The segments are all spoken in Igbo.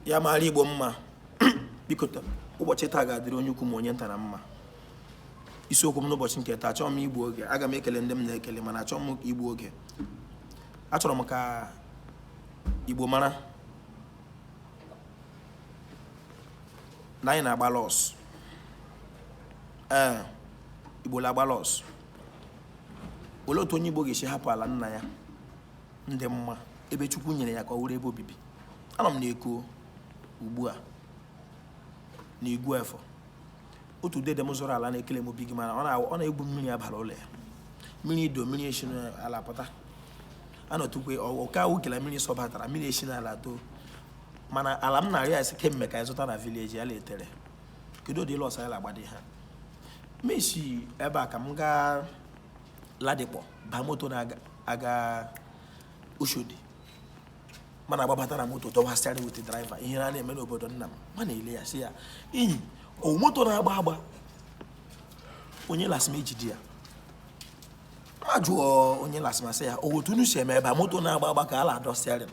ya mara igbo mma biko ụbọchị taa ga-adịrị onye ukwu ma onye nta na mma isiokwu m n'ụbọchị nke taa achọghị m igbu oge aga m ekele ndị m na-ekele mana achọghị m igbu oge achọrọ m ka igbo mara na anyị na-agba lọs ee igbo na-agba lọs olee otu onye igbo ga-esi hapụ ala nna ya ndị mma ebe chukwu nyere ya ka ọ wụrụ ebe obibi anọ m na eko ugbu a na igbo efọn otu dede m zụrụ ala na-ekele m obi gị mana ọ na-egbu mmiri abala ụlọ ya mmiri ido mmiri esi n'ala pụta anọtukwe ọka awụ kela mmiri sọbatara mmiri esi n'ala too mana ala m na-arịọ ya si kemgbe ka anyị zụta na vileji ya letere kedu ụdị lọs anyị na-agbadi ha mesi ebe a ka m gaa Ladipo baa moto na-aga Oshodi man agbabata na moto dọwa steering with driver ihe a na-eme n'obodo nna m m na-ele ya sị ya enyi o moto na-agba agba onye lastma ejide ya mụ ajụọ onye lastma sị ya ọ wụ otu unu si eme ebe a moto na-agba agba ka a na-adọ steering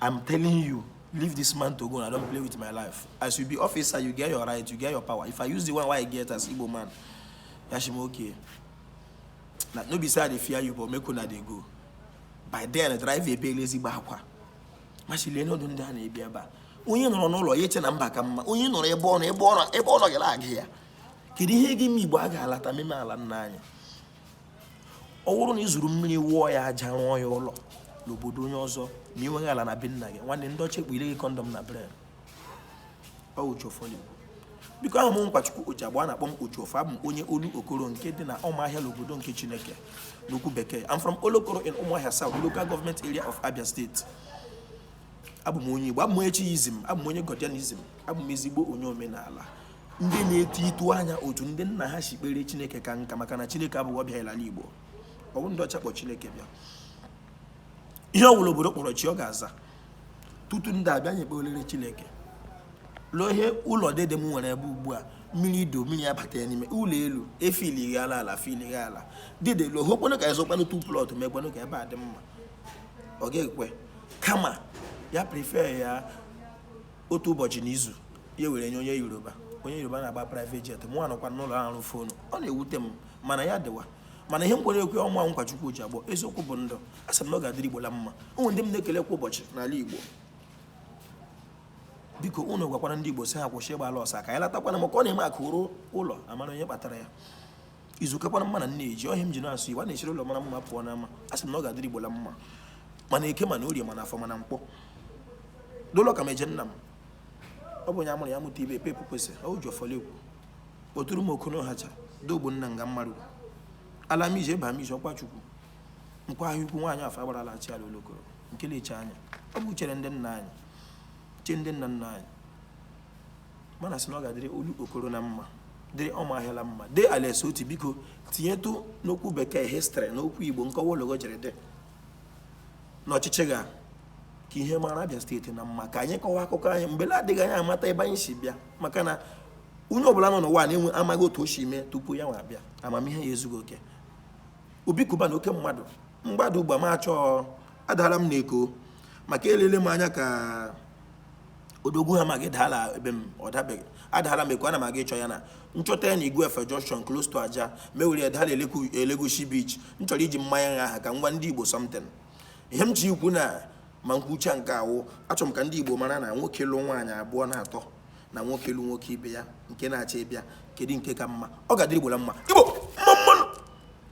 I'm telling you, leave this man to go and I don't play with my life. As you be officer, you get your right, you get your power. If I use the one wey I get as Igbo man, ya asị m okay. Now, no be say I dey fear you, but make una dey go. By then, driver ebeela ezigbo akwa. M asị leenụ ụdị ndụ a na-ebi ebe a. Onye nọrọ n'ụlọ ya eche na mba ka mma. Onye nọrọ ebe ọ nọ ebe ọ nọghị ana-agụ ya. Kedu ihe ji ụmụ Igbo a ga-alata meme ala nna anyị? ọ wụrụ na ị zụrụ mmiri wụọ ya aja rụọ ya ụlọ n'obodo onye ọzọ ma ị nweghị ala na be nna gị nwanne ndị ọcha ekpunyele gị kọndọm na brain ọ wụ chofoli biko awụ m nkwachukwu ojiagbo a na-akpọ m ojiọfọ abụ m onye olokoro nke dị na ụmụahịa n'obodo nke chineke n'okwu bekee I'm from olokoro in ụmụahịa south local government area of abia state abụ m onye igbo abụ m onye chiizm abụ m onye godianism abụ m ezigbo onye omenala ndị na-eto itu anya otu ndị nna ha si kpere chineke kaa nka maka na chineke abụghị ọbịa ala igbo ọ bụ ndị ọcha kpọ chineke bịa ihe ọ bụla obodo kpọrọ chi ọ ga-aza tutu ndị a abịa anyị ekpewelere chineke lụọ ihe ụlọ dede m nwere ebe ugbu a mmiri ido mmiri abata ya n'ime ụlọ elu efili ghe ala ala fili ghe ala dede lụọ hokwanụ ka a zụkwanụ tu plọt mekwanụ ka ebe a dị mma ọ ga-ekwe kama ya prefer ya otu ụbọchị n'izu ya were nye onye yoruba onye yoruba na-agba private jet mụ anọkwa n'ụlọ arụ fonu ọ na-ewute m mana ya dịwa mana ihe m kwere ekwe ọ mụnwa Nkwachukwu Ojiagbo eziokwu bụ ndụ asị m na ọ ga-adịrị Igbo la mma o nwe ndị m na-ekele kwa ụbọchị n'ala Igbo biko unu gwakwara ndị Igbo sị ha kwụsị ịgba lọs ka anyị latakwanụ maka ọ na-eme akụ ruo ụlọ a mara onye kpatara ya izu kakwana mma na nne ji ọ ihe m ji na-asụ igbo a na-esiri ụlọ mara mma pụọ n'ama a sị m na ọ ga-adịrị igbo la mma ma n'eke ma n'orie ma n'afọ ma na nkwọ dolo ka m eje nna m ọ bụ onye a mụrụ ya mụta ibe epe epukwesị o ji ọfọli ekwu kpọtụrụ m okono hacha dogbo nna nga mmarụ ala m ije ebe m ije ọkwa chukwu nkwa ahịa ukwu nwaanyị afọ agbara ala chi ala olokoro nke na-eche anyị ọ bụ chere ndị nna anyị chee ndị nna nna anyị m na-asị na ọ ga-adịrị olokoro na mma dịrị ụmụahịa la mma dee alex otti biko tinyetụ n'okwu bekee history na okwu igbo nkọwa ologo jiri dị n'ọchịchị gị ka ihe mara abịa steeti na mma ka anyị kọwa akụkọ anyị mgbe na-adịghị anya amata ebe anyị si bịa maka na onye ọbụla nọ n'ụwa na-enwe amaghị otu o si mee tupu ya nwa abịa amamihe ya ezughị oke obi cubana oke mmadụ mgbada ugba m achọọ adala m n'eko maka elele m anya ka odogwu ha maghị daala ebe m ọ dabeghị adaala m Eko ana m aga ịchọ ya na m chọta ya na Igbo Efon Junction close to Ajah m ewere ya daa la Elegushi Beach m chọrọ iji mmanya nha aha ka m gwa ndị Igbo something ihe m ji ikwu na ma m kwuchaa nke a wụ achọrọ m ka ndị Igbo mara na nwoke lụ nwaanyị abụọ na atọ na nwoke lụ nwoke ibe ya nke na-achọ ịbịa kedu nke ka mma ọ ga-adịrị Igbo na mma Igbo mma mma nụ